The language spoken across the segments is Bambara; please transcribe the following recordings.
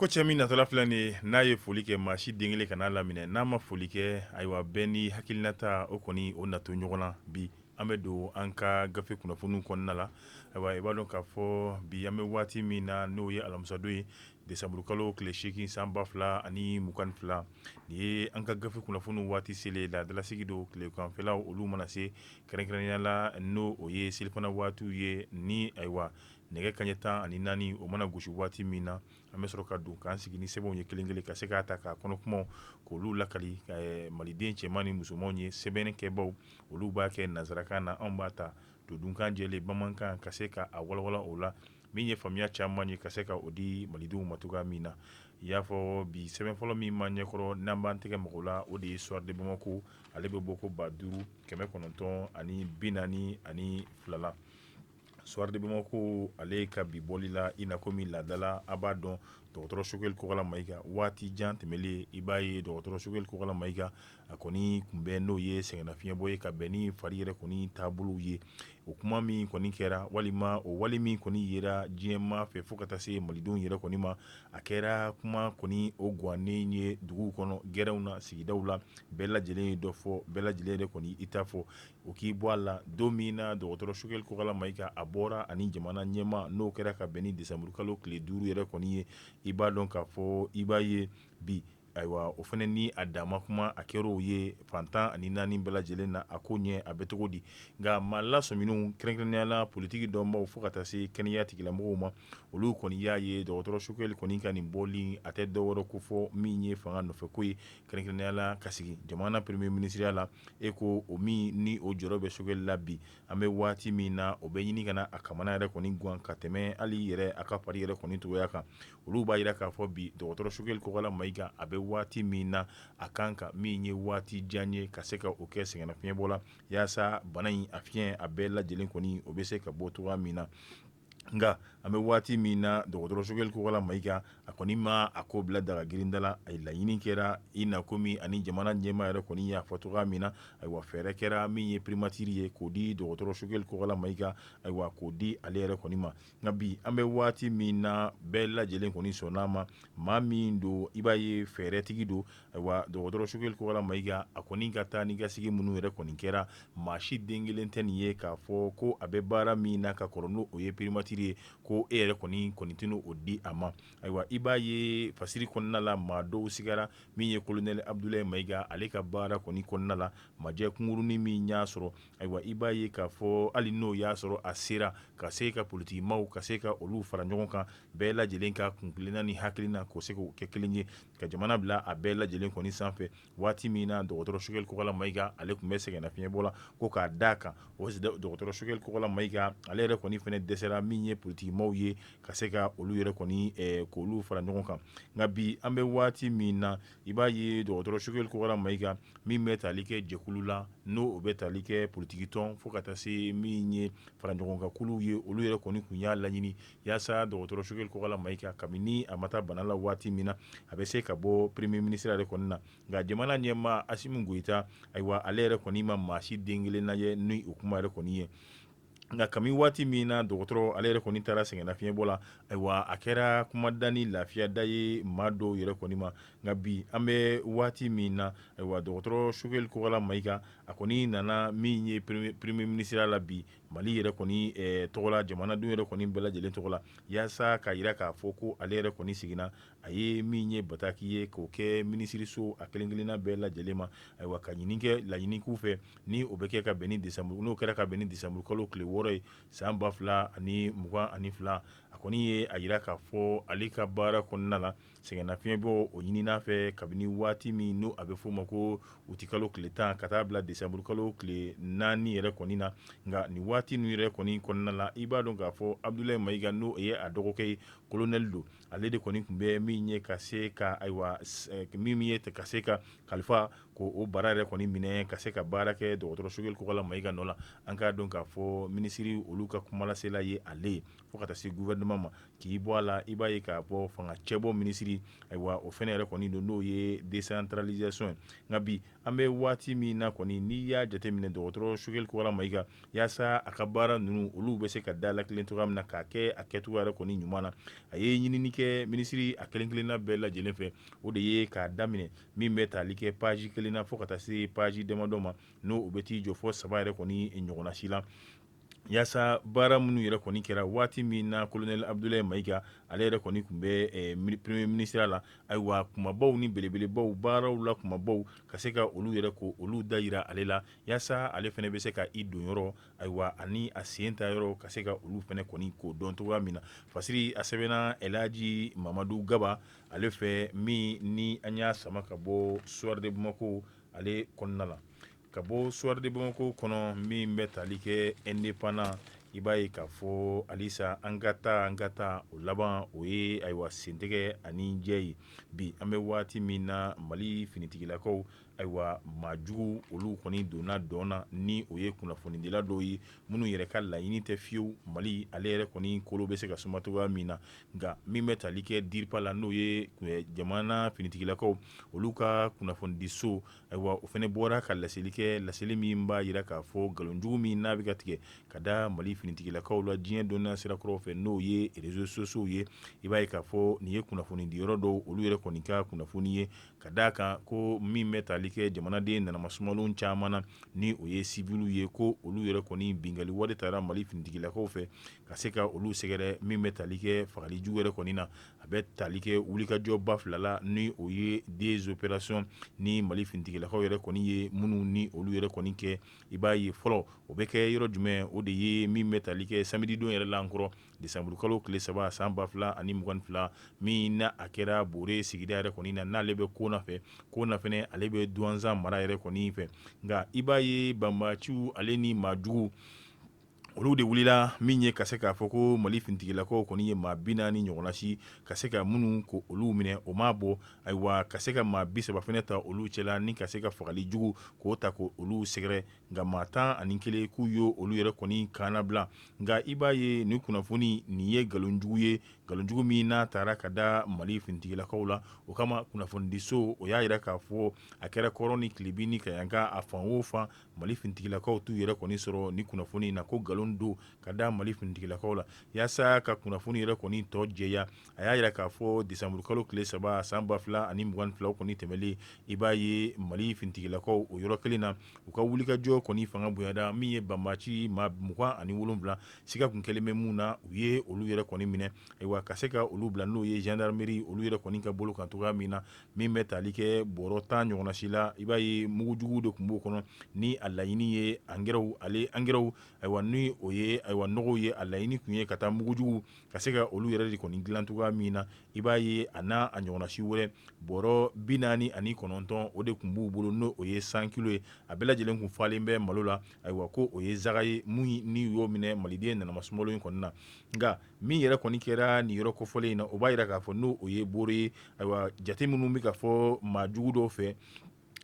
Ko cɛ min natɔ filɛ nin ye n'a ye foli kɛ maa si den kelen kan'a laminɛ n'a ma foli kɛ ayiwa bɛɛ ni hakilinata o kɔni o na to ɲɔgɔn na bi an bɛ don an ka gafe kunnafoni kɔnɔna la ayiwa i b'a dɔn k'a fɔ bi an bɛ waati min na n'o ye alamisadon ye desanburukalo tile seegin san ba fila ani mugan fila nin ye an ka gafe kunnafoni waati selen laadalasigi don tileganfɛlaw olu mana se Kɛrɛnkɛrɛnnenya la n'o o ye selifana waatiw ye ni ayiwa nɛgɛ kaɲɛ tan ani naani o mana gosi waati min na an bɛ sɔrɔ ka don k'an sigi ni sɛbɛnw ye kelen kelen ka se k'a ta k'a kɔnɔkumaw k'olu lakali maliden cɛman ni musomanw ye sɛbɛnni kɛbaw olu b'a kɛ nansarakan na anw b'a ta todunkan jɛlen bamanankan ka se k'a walawala o la Min ye faamuya caman ye ka se ka o di malidenw ma cogoya min na i y'a fɔ bi sɛbɛn fɔlɔ min b'an ɲɛkɔrɔ n'an b'an tɛgɛ maga o la o de ye Soir de Bamako ale bɛ bɔko ba duuru kɛmɛ kɔnɔntɔn ani bi naani ani fila la Soir de Bamako ale ka bi bɔli la i na komi laada la a b'a dɔn dɔgɔtɔrɔ Sogɛli Kokala Mayiga waati jan tɛmɛnlen i b'a ye dɔgɔtɔrɔ Sogɛli Kokala Mayiga a kɔni tun bɛ n'o ye sɛgɛnnafiɲɛbɔ ye ka bɛn ni fari yɛrɛ kɔni taabolow ye o kuma min kɔni kɛra walima o wale min kɔni yera diɲɛmaa fɛ fo ka taa se malidenw yɛrɛ kɔni ma a kɛra kuma kɔni o gannen ye dugu kɔnɔ gɛrɛnw na sigidaw la bɛɛ lajɛlen ye dɔ fɔ bɛɛ lajɛlen yɛrɛ kɔni i ta fɔ o k'i bɔ a la don min na dɔgɔtɔrɔ Sogɛli Kokala Mayiga a bɔra ani jamana ɲɛmaa n'o kɛra ka bɛn ni desanburukalo tile duuru yɛrɛ kɔni ye i b'a dɔn k'a fɔ i b'a ye bi Ayiwa o fana ni a dama kuma a kɛra o ye fan tan ani naani bɛɛ lajɛlen na a koɲɛ a bɛ cogo di nka maa lasɔminenw kɛrɛnkɛrɛnnenya la politiki dɔnbaw fo ka taa se kɛnɛya tigilamɔgɔw ma olu kɔni y'a ye dɔgɔtɔrɔ Sogɛli kɔni ka nin bɔli a tɛ dɔwɛrɛ kofɔ min ye fanga nɔfɛko ye kɛrɛnkɛrɛnnenya la ka sigi jamana premier minisiriya la e ko o min ni o jɔrɔ bɛ Sogɛli la bi an bɛ waati min na o bɛ ɲini ka na a kamana yɛrɛ kɔni gan ka tɛmɛ hali yɛrɛ a ka fari yɛrɛ kɔni cogoya kan olu b'a jira k'a fɔ bi dɔgɔtɔrɔ Sogɛli Kokala Mayiga a bɛ waati min na a kan ka min ye waati jan ye ka se ka o kɛ sɛgɛnnafiɲɛbɔ la yaasa bana in a fiɲɛ a bɛɛ lajɛlen kɔni o bɛ se ka bɔ cogo min na nka an bɛ waati min na dɔgɔtɔrɔ Sogɛli Kokala Mayiga a kɔni ma a ko bila daga girinda la a laɲini kɛra i na komi ani jamana ɲɛmaa yɛrɛ kɔni y'a fɔ cogo min na ayiwa fɛɛrɛ kɛra min ye primatiri ye k'o di dɔgɔtɔrɔ Sogɛli Kokala Mayiga ayiwa k'o di ale yɛrɛ kɔni ma nka bi an bɛ waati min na bɛɛ lajɛlen kɔni sɔnna a ma maa min don i b'a ye fɛɛrɛtigi don ayiwa dɔgɔtɔrɔ Sogɛli Kokala Mayiga a kɔni ka taanikasegin minnu yɛrɛ kɔni kɛra maa si den kelen tɛ nin ye k'a fɔ ko a bɛ baara min na ka kɔrɔ n'o ye primatiri ye ko e yɛrɛ kɔni kɔni tɛna o di a ma ayiwa i b'a ye fasiri kɔnɔna la maa dɔw sigira min ye kolonɛli Abudulayi Mayiga ale ka baara kɔni kɔnɔna la maajɛ kunkurunnin min y'a sɔrɔ Ayiwa i b'a ye k'a fɔ hali n'o y'a sɔrɔ a sera ka se ka politikimaaw ka se ka olu fara ɲɔgɔn kan bɛɛ lajɛlen ka kunkilenna ni hakilina k'o se k'o kɛ kelen ye ka jamana bila a bɛɛ lajɛlen kɔni sanfɛ waati min na dɔgɔtɔrɔ Sogɛli Kokala Mayiga ale tun bɛ sɛgɛnnafiɲɛbɔ la ko k'a da a kan o dɔgɔtɔrɔ Sogɛli Kokala Mayiga ale yɛrɛ kɔni fana dɛsɛra min ye politikimaaw ye ka se ka olu yɛrɛ kɔni k'olu fara ɲɔgɔn kan nka bi an bɛ waati min na I b'a ye dɔgɔtɔrɔ Sogɛli Kokala Mayiga min bɛ tali kɛ jɛkulu la n'o bɛ tali kɛ politikitɔn fo ka taa se min ye faraɲɔgɔnkankuluw ye olu yɛrɛ kɔni tun y'a laɲini yaasa dɔgɔtɔrɔ Sogɛli Kokala Mayiga kabini a ma taa bana la waati min na a bɛ se ka bɔ premier ministre yɛrɛ kɔni na nka jamana ɲɛmaa Asimi Goyita ayiwa ale yɛrɛ kɔni ma maa si den kelen lajɛ ni o kuma yɛrɛ kɔni ye Nka kami waati min na dɔgɔtɔrɔ ale yɛrɛ kɔni taara sɛgɛnnafiɲɛbɔ la ayiwa a kɛra kumada ni lafiyada ye maa dɔw yɛrɛ kɔni ma nka bi an bɛ waati min na ayiwa dɔgɔtɔrɔ Sogɛli Kokala Mayiga a kɔni nana min ye premier ministre la bi Mali yɛrɛ kɔni tɔgɔ la jamanadenw yɛrɛ kɔni bɛɛ lajɛlen tɔgɔ la yaasa k'a jira k'a fɔ ko ale yɛrɛ kɔni seginna a ye min ye bataki ye k'o kɛ minisiriso a kelen-kelenna bɛɛ lajɛlen ma ayiwa ka ɲini kɛ laɲini k'u fɛ ni o bɛ kɛ ka bɛn ni desanburu n'o kɛra ka bɛn ni desanburu kalo tile wɔɔrɔ ye san ba fila ani mugan ani fila a kɔni ye a jira k'a fɔ ale ka baara kɔnɔna na sɛgɛnnafiɲɛ bɔ o ɲinina a fɛ kabini waati min n'a bɛ f'o ma ko uti kalo tile tan ka taa bila desanburu kalo tile naani yɛrɛ kɔni na nka nin waati ninnu yɛrɛ kɔni kɔnɔna la i b'a dɔn k'a fɔ Abdulayi Mayiga n'o ye a dɔgɔkɛ ye kolonɛli don ale de kɔni tun bɛ min ye ka se ka ayiwa min ye ka se ka kalifa ko o baara yɛrɛ kɔni minɛ ka se ka baara kɛ dɔgɔtɔrɔ Sogɛli Kokala Mayiga nɔ la an k'a dɔn k'a fɔ minisiri olu ka kumalasela ye ale ye fo ka taa se gouvernement ma k'i bɔ a la i b'a ye k'a bɔ fanga cɛbɔ minisiri ayiwa o fana yɛrɛ kɔni don n'o ye décentralisation ye nka bi an bɛ waati min na kɔni n'i y'a jateminɛ dɔgɔtɔrɔ Sogɛli Kokala Mayiga yaasa a ka baara ninnu olu bɛ se ka da la kelen cogoya min na k'a kɛ a kɛ cogoya yɛrɛ kɔni ɲuman na a ye ɲinini kɛ minisiri a kelen-kelenna bɛɛ lajɛlen fɛ o de ye k'a daminɛ min bɛ tali kɛ page kelen na fo ka taa se page damadɔ ma n'o bɛ t'i jɔ fo saba yɛrɛ kɔni ɲɔgɔnnasi la yaasa baara minnu yɛrɛ kɔni kɛra waati min na kolonɛli Abdulayi Mayiga ale yɛrɛ kɔni tun bɛ premier ministre la ayiwa kumabaw ni belebelebaw baaraw la kumabaw ka se ka olu yɛrɛ ko olu da jira ale la yaasa ale fana bɛ se ka i don yɔrɔ ayiwa ani a sen ta yɔrɔ ka se ka olu fana kɔni k'o dɔn cogoya min na fasiri a sɛbɛnna Ɛlihaji Mamadu Gaba ale fɛ min ni an y'a sama ka bɔ Soir de Bamako ale kɔnɔna la ka bɔ Soir de Bamako kɔnɔ min bɛ tali kɛ Indépendant i b'a ye k'a fɔ halisa an ka taa an ka taa o laban o ye ayiwa sentɛgɛ ani jɛ ye bi an bɛ waati min na Mali finitigilakaw Ayiwa maa jugu olu kɔni donna dɔn na ni o ye kunnafonidila dɔw ye minnu yɛrɛ ka laɲini tɛ fiyewu mali ale yɛrɛ kɔni kolo bɛ se ka suma cogoya min na nka min bɛ taali kɛ DIRPA la n'o ye jamana finitigilakaw olu ka kunnafonidiso ayiwa o fɛnɛ bɔra ka laseli kɛ laseli min b'a yira k'a fɔ nkalonjugu min n'a bɛ ka tigɛ ka da mali finitigilakaw la diɲɛ dɔnniya sirakɔrɔ fɛ n'o ye réseaux sociaux ye i b'a ye k'a fɔ nin ye kunnafonidi yɔrɔ dɔw olu yɛrɛ kɔni ka kunnafoni ye ka d' a kan ko min bɛ taali kɛ jamanaden nanamasumalen caman na ni o ye civilw ye ko olu yɛrɛ kɔni bingali wale taara mali finitigilakaw fɛ ka se ka olu sɛgɛrɛ min bɛ taali kɛ fagali jugu yɛrɛ kɔni na a bɛ taali kɛ wulikajɔba fila la ni o ye des opérations ni mali finitigilakaw yɛrɛ kɔni ye minnu ni olu yɛrɛ kɔni kɛ i b'a ye fɔlɔ o bɛ kɛ yɔrɔ jumɛn o de ye min bɛ taali kɛ samedi don yɛrɛ la n kɔrɔ Desanburukalo tile saba san ba fila ani mugan fila min na a kɛra Bore sigida yɛrɛ kɔni na n'ale bɛ Kona fɛ Kona fɛnɛ ale bɛ Duwanza mara yɛrɛ kɔni fɛ nka i b'a ye banbaciw ale ni maajugu olu de wulila min ye ka se k'a fɔ ko mali finitigilakaw kɔni ye maa bi naani ɲɔgɔnna si ka se ka minnu ko olu minɛ o ma bɔ ayiwa ka se ka maa bi saba fɛnɛ ta olu cɛla ni ka se ka fagali jugu k'o ta ko olu sɛgɛrɛ nka maa tan ani kelen k'u ye olu yɛrɛ kɔni kannabila nka i b'a ye nin kunnafoni nin ye nkalonjugu ye nkalonjugu min n'a taara ka da mali finitigilakaw la o kama kunnafonidiso o y'a yira k'a fɔ a kɛra kɔrɔn ni tilebin ni kɛɲɛka a fan o fan mali finitigilakaw t'u yɛrɛ kɔni sɔrɔ nin kunnafoni in na ko nkalon don ka da mali finitigilakaw la yaasa ka kunnafoni yɛrɛ kɔni tɔ jɛya a y'a yira k'a fɔ desanburukalo tile saba san ba fila ani mugan fila kɔni tɛmɛlen i b'a ye mali finitigilakaw o yɔrɔ kelen na u ka wulikajɔ kɔni fanga bonyada min ye banbaci maa mugan ani wolowula siga tun kɛlen bɛ min na u ye olu yɛrɛ kɔni minɛ ayiwa ka se ka olu bila n'o ye gendarmerie olu yɛrɛ kɔni ka bolo kan cogoya min na min bɛ taali kɛ bɔrɔ tan ɲɔgɔnna si la i b'a ye mugujugu de tun b'o kɔnɔ ni a laɲini ye angɛrɛw ale angɛrɛw ayiwa n' o ye ayiwa nɔgɔw ye a laɲini tun ye ka taa mugujugu ka se ka olu yɛrɛ de kɔni dilan cogoya min na i b'a ye a n'a a ɲɔgɔnna si wɛrɛ bɔrɔ bi naani ani kɔnɔntɔn o de tun b'u bolo n'o o ye cent kilos ye a bɛɛ lajɛlen tun falen bɛ malo la ayiwa ko o ye zaka ye min ni y'o minɛ maliden nanamasumalenw in kɔni na nka min yɛrɛ kɔni kɛra nin yɔrɔ kɔfɔlen in na o b'a yira k'a fɔ n'o o ye Bore ye ayiwa jate minnu bɛ ka fɔ maa jugu dɔw fɛ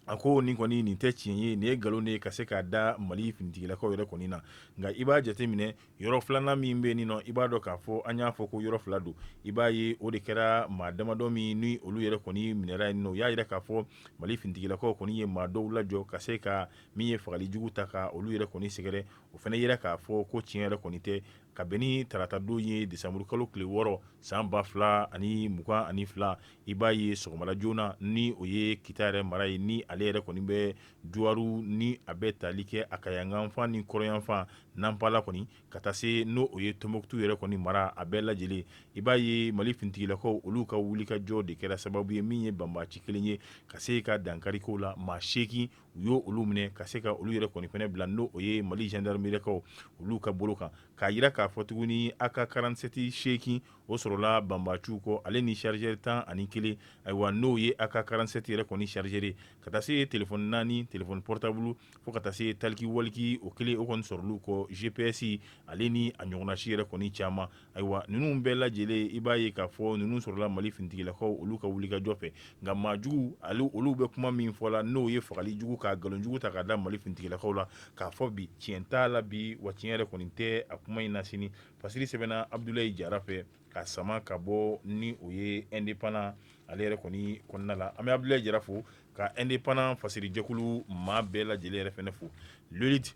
A ko nin kɔni nin tɛ tiɲɛ ye nin ye nkalon de ye ka se k'a da Mali finitigilakaw yɛrɛ kɔni na nka i b'a jateminɛ yɔrɔ 2 nan min bɛ nin nɔ i b'a dɔn k'a fɔ an y'a fɔ ko yɔrɔ 2 don i b'a ye o de kɛra maa damadɔ min ni olu yɛrɛ kɔni minɛra yen nɔ u y'a yira k'a fɔ Mali finitigilakaw kɔni ye maa dɔw lajɔ ka se ka min ye fagali jugu ta ka olu yɛrɛ kɔni sɛgɛrɛ o fana yira k'a fɔ ko tiɲɛ yɛrɛ kɔni tɛ ka bɛn ni tarata don ye desanburu kalo tile 6 san 2022 i b'a ye sɔgɔmada joona ni o ye kita yɛrɛ mara ye ni ale yɛrɛ kɔni bɛ duwaru ni a bɛ taali kɛ a kaɲakafan ni kɔrɔnyanfan nanpala kɔni ka taa se n'o o ye tonbukutu yɛrɛ kɔni mara a bɛɛ lajɛlen i b'a ye mali finitigilakaw olu ka wulikajɔ de kɛra sababu ye min ye banbaci kelen ye ka se ka dankari k'o la maa seegin u y' olu minɛ ka se ka olu yɛrɛ kɔni fɛnɛ bila n'o o ye mali zandarimerikaw olu ka bolo kan k'a jira k'a fɔ tuguni aka karansɛti seegin o sɔrɔla banbaci kɔ ale ni sarizɛri tan ani kelen ayiwa n'o ye aka karansɛti yɛrɛ kɔni sarizɛri ka taa se ye telefɔni naani telefɔni pɔritabulu fo ka taa se taliki waliki o kelen o kɔni sɔrɔl'u kɔ gps ale ni a ɲɔgɔnna si yɛrɛ kɔni caman ayiwa ninnu bɛɛ lajɛlen i b'a ye k'a fɔ ninnu sɔrɔla mali finitigilakaw olu ka wulikajɔ fɛ nka maajugu olu bɛ kuma min fɔ la n'o ye fagali jugu ka nkalonjugu ta k'a da mali finitigilakaw la k'a fɔ bi tiɲɛ t'a la bi wa tiɲɛ yɛrɛ kɔni tɛ a kuma in na sini fasiri sɛbɛnna abudulayi jara fɛ ka sama ka bɔ ni o ye ɛndepandan ale yɛrɛ kɔni kɔnɔna la an bɛ abudulayi jara fo ka ɛndepandan fasiri jɛkulu maa bɛɛ lajɛlen yɛrɛ fana fo liliti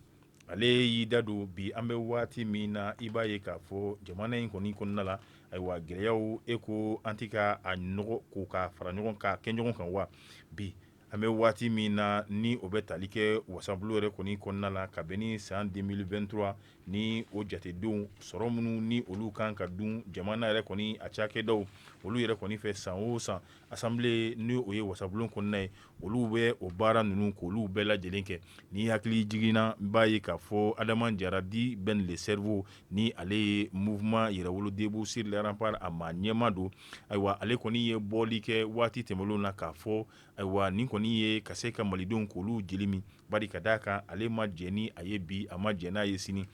ale y'i da don bi an bɛ waati min na i b'a ye k'a fɔ jamana in kɔni kɔnɔna la ayiwa gɛlɛyaw e ko an tɛ ka a nɔgɔ ko ka fara ɲɔgɔn kan kɛ ɲɔgɔn kan wa bi An bɛ waati min na ni o bɛ tali kɛ wasabulon yɛrɛ kɔni kɔnɔna la ka bɛn ni san 2023 ni o jatedenw sɔrɔ minnu ni olu kan ka dun jamana yɛrɛ kɔni a cakɛdaw olu yɛrɛ kɔni fɛ san o san asan n' o ye wasabulon kɔnɔna ye olu bɛ o baara ninnu k'olu bɛɛ lajɛlen kɛ ni hakili jiginna b'a ye k'a fɔ adama jara di ben le cerveau ni ale ye mouvement yɛrɛwolo debout sur les remparts a maa ɲɛmaa don ayiwa ale kɔni ye bɔli kɛ waati tɛmɛnenw na k'a fɔ ayiwa nin kɔni ye ka se ka malidenw k'olu jeli min bari ka d'a kan ale ma jɛn ni a ye bi a ma jɛn n'a ye sini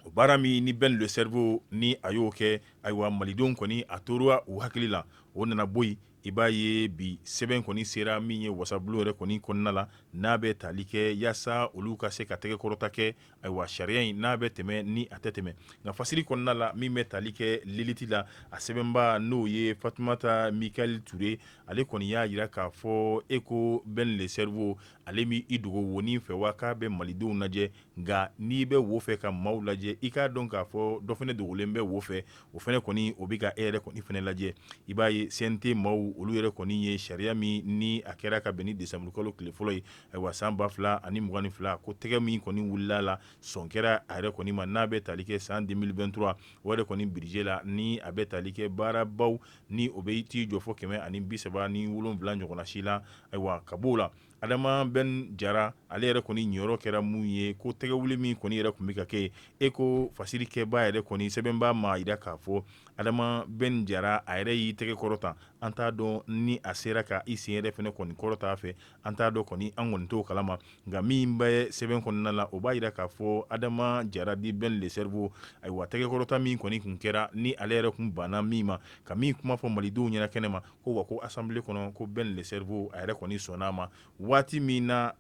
o baara min ni ben le cerveau ni a y'o kɛ ayiwa malidenw kɔni a tora u hakili la o nana bɔ yen i b'a ye bi sɛbɛn kɔni sera min ye wasabulon yɛrɛ kɔni kɔnɔna la n'a bɛ taali kɛ yaasa olu ka se ka tɛgɛ kɔrɔta kɛ Ayiwa sariya in n'a bɛ tɛmɛ ni a tɛ tɛmɛ nka fasiri kɔnɔna la min bɛ tali kɛ liliti la a sɛbɛnbaa n'o ye fatumata mikayɛli ture ale kɔni y'a jira k'a fɔ e ko ben le cerveau ale bɛ i dogo wonin fɛ wa k'a bɛ malidenw lajɛ nka n'i bɛ wo fɛ ka maaw lajɛ i k'a dɔn k'a fɔ dɔ fana dogolen bɛ wo fɛ o fana kɔni o bɛ ka e yɛrɛ kɔni fana lajɛ i b'a ye CNT maaw olu yɛrɛ kɔni ye sariya min ni a kɛra ka bɛn ni desanburukalo tile fɔlɔ ye ayiwa san ba fila ani mugan ni fila ko tɛgɛ min kɔni wulila la sɔn kɛra a yɛrɛ kɔni ma n'a bɛ tali kɛ san deux mille vingt-trois o yɛrɛ kɔni budget la ni a bɛ tali kɛ baarabaw ni o bɛ t'i jɔ fɔ kɛmɛ ani bi saba ni wolonwula ɲɔgɔnna si la ayiwa ka b'o la adama bɛn jara ale yɛrɛ kɔni jɔyɔrɔ kɛra mun ye ko tɛgɛ wuli min kɔni yɛrɛ kun bɛ ka kɛ e ko fasiri kɛba yɛrɛ kɔni sɛbɛnba m'a jira k'a fɔ adama bɛn jara a yɛrɛ y'i tɛgɛ kɔrɔta an t'a dɔn ni a sera k' i sen yɛrɛ fɛnɛ kɔni kɔrɔta fɛ an t'a dɔn kɔni an kɔni t'o kalama nka min bɛ sɛbɛn kɔnɔna la o b'a jira k'a fɔ adama jara dit bɛn le cerveau ayiwa tɛgɛkɔrɔta min kɔni kun kɛra ni ale yɛrɛ kun banna min ma ka min kuma fɔ malidenw ɲɛna kɛnɛ ma ko wa ko assemblée kɔnɔ ko bɛn le cerveau a yɛrɛ kɔni sɔnna a ma waati min na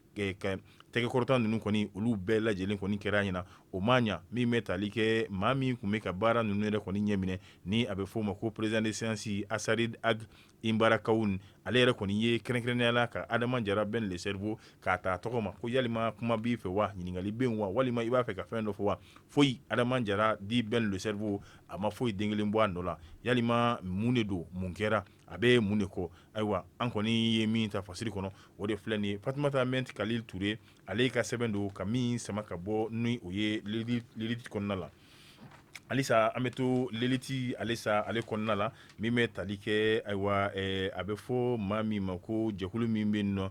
tɛgɛkɔrɔta ninnu kɔni olu bɛɛ lajɛlen kɔni kɛra ɲɛna o ma ɲa min bɛ tali kɛ maa min kun bɛ ka baara ninnu yɛrɛ kɔni ɲɛminɛ ni a bɛ f'o ma ko président de séance asarid Imbarakawun ale yɛrɛ kɔni ye kɛrɛnkɛrɛnnenya la ka adama jara bɛn le cerveau k'a ta tɔgɔ ma ko yalima kuma b'i fɛ wa ɲininkali bɛ yen wa walima i b'a fɛ ka fɛn dɔ fɔ wa foyi adama jara dit bɛn le cerveau a ma foyi den kelen bɔ a nɔ la yalima mun de don mun kɛra a bɛ mun de kɔ ayiwa an kɔni ye min ta fasiri kɔnɔ o de filɛ nin ye fatumata mɛnti kalil ture ale ka sɛbɛn don ka min sama ka bɔ ni o ye l'élite kɔnɔna la Halisa an bɛ to l'élite halisa ale kɔnɔna la min bɛ tali kɛ ayiwa a bɛ fɔ maa min ma ko jɛkulu min bɛ nɔ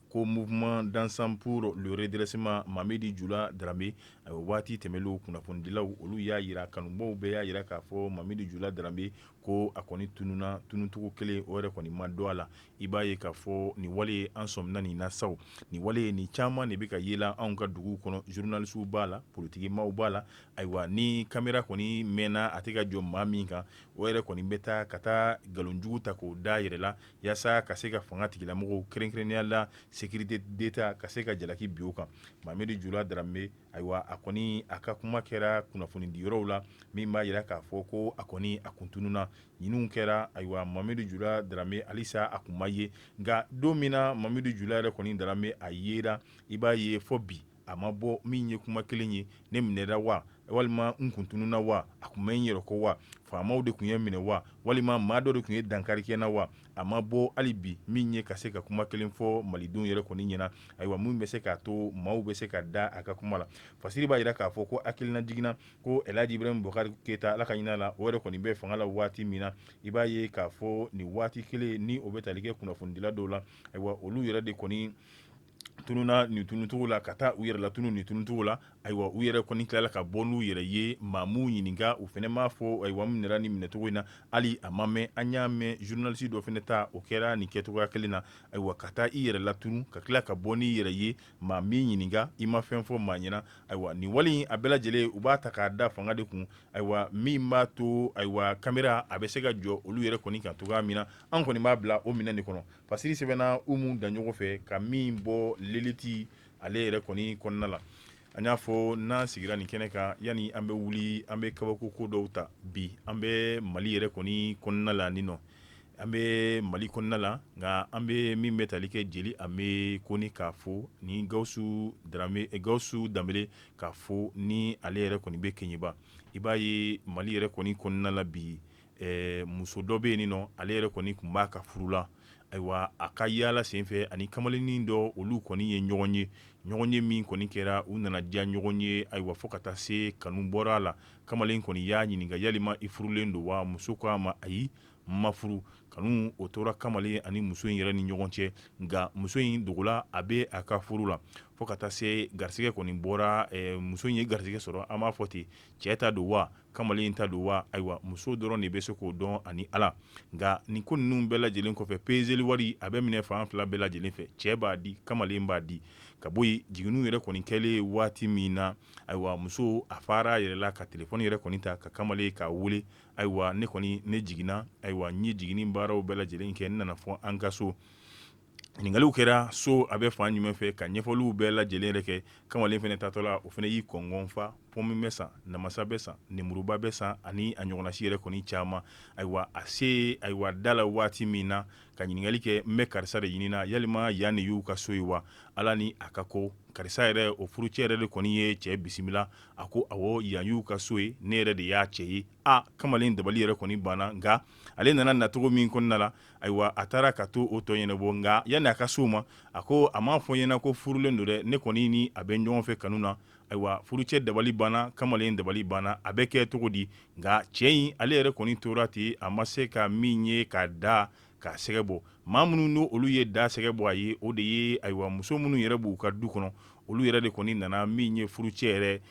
ko mouvement d'ensemble pour le redressement mamadi jula darame waati tɛmɛlenw kunnafonidilaw olu y'a jira kanubaw bɛɛ y'a jira k'a fɔ mamadi jula darame ko a kɔni tununna tununcogo kelen o yɛrɛ kɔni ma dɔn a la i b'a ye k'a fɔ nin wale ye an sɔmina nin na saw nin wale ye nin caman de bɛ ka yela anw ka dugu kɔnɔ journalistes b'a la politikimaaw b'a la ayiwa ni caméra kɔni mɛnna a tɛ ka jɔ maa min kan o yɛrɛ kɔni bɛ taa ka taa nkalonjugu ta k'o da a yɛrɛ la yaasa ka se ka fanga tigilamɔgɔw kɛrɛnkɛrɛnnenya la sécurité d'état ka se ka jalaki bin o kan mamadi jula darame Ayiwa a kɔni a ka kuma kɛra kunnafoni di yɔrɔw la min b'a jira k'a fɔ ko a kɔni a kun tununna ɲinini kɛra ayiwa mamadi jula darame halisa a kun ma ye nka don min na mamadi jula yɛrɛ kɔni darame a yera i b'a ye fɔ bi a ma bɔ min ye kuma kelen ye ne minɛra wa walima n kun tununna wa a kun bɛ n yɛrɛ kɔ wa faamaw de kun ye minɛ wa walima maa dɔ de kun ye dankari kɛ n na wa a ma bɔ hali bi min ye ka se ka kuma kelen fɔ malidenw yɛrɛ kɔni ɲɛna ayiwa mun bɛ se k'a to maaw bɛ se ka da a ka kuma la fasiri b'a jira k'a fɔ ko hakilinajigin na ko elhadji ibrahim bubakari keyita ala ka hinɛ a la o yɛrɛ kɔni bɛ fanga la waati min na i b'a ye k'a fɔ nin waati kelen ni o bɛ tali kɛ kunnafonidila dɔw la ayiwa olu yɛrɛ de kɔni tununa nin tunucogo la ka taa u yɛrɛ latunu nin tunucogo la ayiwa u yɛrɛ kɔni tilala ka bɔ n'u yɛrɛ ye maa m'u ɲininka u fana m'a fɔ ayiwa n minɛna nin minɛcogo in na hali a ma mɛn an y'a mɛn zurunalisi dɔ fana ta o kɛra nin kɛcogoya kelen na ayiwa ka taa i yɛrɛ latunu ka tila ka bɔ n'i yɛrɛ ye maa m'i ɲininka i ma fɛn fɔ maa ɲɛna ayiwa nin wale a bɛɛ lajɛlen u b'a ta k'a da fanga de kun ayiwa min b'a to ayiwa kamera a bɛ se ka jɔ olu yɛrɛ kɔni kan cogoya min na an kɔni b'a bila o minɛn de kɔnɔ Pasiri sɛbɛnna umu daɲɔgɔ fɛ ka min bɔ leliti ale yɛrɛ kɔni kɔnɔna la an y'a fɔ n'an sigira nin kɛnɛ kan yani an bɛ wuli an bɛ kabako ko dɔw ta bi an bɛ mali yɛrɛ kɔni kɔnɔna la nin nɔ an bɛ mali kɔnɔna la nka an bɛ min bɛ tali kɛ jeli an bɛ kɔni k'a fɔ ni gawusu danbele k'a fɔ ni ale yɛrɛ kɔni bɛ keɲeba i b'a ye mali yɛrɛ kɔni kɔnɔna la bi ɛɛ muso dɔ bɛ yen nin nɔ ale yɛrɛ kɔni tun b'a ka furu la ayiwa a ka yaala senfɛ ani kamalennin dɔ olu kɔni ye ɲɔgɔn ye ɲɔgɔn ye min kɔni kɛra u nana diya ɲɔgɔn ye ayiwa fo ka taa se kanu bɔra a la kamalen kɔni y'a ɲininka yalima i furulen don wa muso ko a ma ayi n ma furu kanu o tora kamalen ani muso in yɛrɛ ni ɲɔgɔn cɛ nka muso in dogola a bɛ a ka furu la fo ka taa se garisɛgɛ kɔni bɔra ɛɛ muso in ye garisɛgɛ sɔrɔ an b'a fɔ ten cɛ ta don wa kamalen in ta don wa ayiwa muso dɔrɔn de bɛ se k'o dɔn ani ala nka nin ko ninnu bɛɛ lajɛlen kɔfɛ peseli wari a bɛ minɛ fan fila bɛɛ lajɛlen fɛ cɛ b'a di kamalen b'a di ka bɔ yen jiginni yɛrɛ kɔni kɛlen waati min na ayiwa muso a fara yɛrɛ la ka telefɔni yɛrɛ kɔni ta ka kamalen k'a wele ayiwa ne kɔni ne jiginna ayiwa n ye jiginni baaraw bɛɛ lajɛlen kɛ n nana fɔ an ka so ɲininkaliw kɛra so a bɛ fan jumɛn fɛ ka ɲɛfɔliw bɛɛ lajɛlen yɛrɛ kɛ kamalen fana taatɔ la o fana y'i kɔngɔn fa pɔmi bɛ san namasa bɛ san nemuruba bɛ san ani a ɲɔgɔnnasi yɛrɛ kɔni caman ayiwa a se ayiwa da la waati min na ka ɲininkali kɛ n bɛ karisa de ɲinin na yalima yan de y'u ka so ye wa ala ni a ka ko karisa yɛrɛ o furucɛ yɛrɛ de kɔni ye cɛ bisimila a ko awɔ yan y'u ka so ye ne yɛrɛ de y'a cɛ ye aa kamalen dabali yɛrɛ kɔni banna nka ale nana nacogo min kɔnɔna la ayiwa a taara ka to o tɔ ɲɛnabɔ nka yanni a ka se o ma a ko a m'a fɔ n ɲɛna ko furulen don dɛ ne kɔni ni a bɛ ɲɔgɔn fɛ kanu na ayiwa furucɛ dabali banna kamalen dabali banna a bɛ kɛ cogo di nka cɛ in ale yɛrɛ kɔni tora ten a ma se ka min ye k'a da k'a sɛgɛ bɔ maa minnu n'o olu ye da sɛgɛ bɔ a ye o de ye ayiwa muso minnu yɛrɛ b'u ka du kɔnɔ olu yɛrɛ de kɔni nana min ye furucɛ yɛrɛ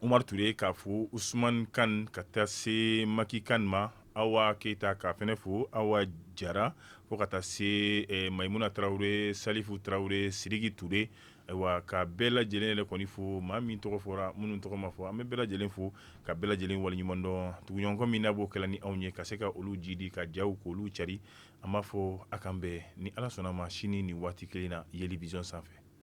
Umaru Ture k'a fo usmani kan ka taa se maki kan ma Awa keyita k'a fɛnɛ fo Awa jara fo ka taa se Mayimuna tarawele salifu tarawele siriki Ture ayiwa ka bɛɛ lajɛlen yɛrɛ kɔni fo maa min tɔgɔ fɔra minnu tɔgɔ ma fɔ an bɛ bɛɛ lajɛlen fo ka bɛɛ lajɛlen waleɲumandɔn tuguɲɔgɔnkɔ min na b'o kɛla ni anw ye ka se ka olu jidi ka jaw k'olu cari an b'a fɔ a k'an bɛn ni ala sɔnna a ma sini nin waati kelen na yeli vision sanfɛ